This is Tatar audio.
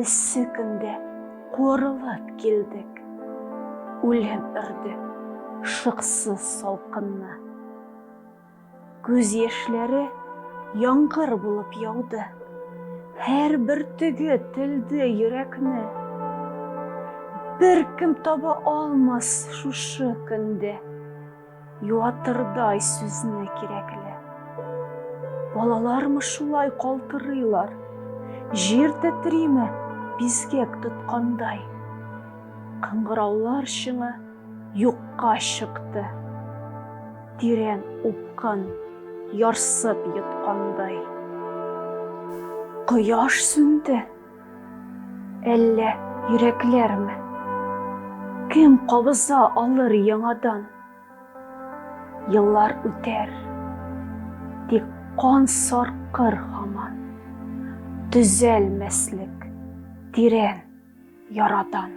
Эссе көндә куырылып килдек. Үлем өрде шыксыз салкынны. Күз яшьләре яңгыр булып яуды. Һәр бөртеге телде йөрәкне. Беркем таба алмас шушы көндә Юатырдай сүзне кирәкле. Балалармы шулай калтырыйлар, Җир тетриме бизгәк тоткандай. Кыңгыраулар чыңы юкка чыкты, Тирән упкын ярсып йоткандай. Кояш сүнде. Әллә йөрәкләрме? Кем кабыза алыр яңадан? Еллар үтәр, тик кан саркыр һаман, Төзәлмәслек тирән ярадан.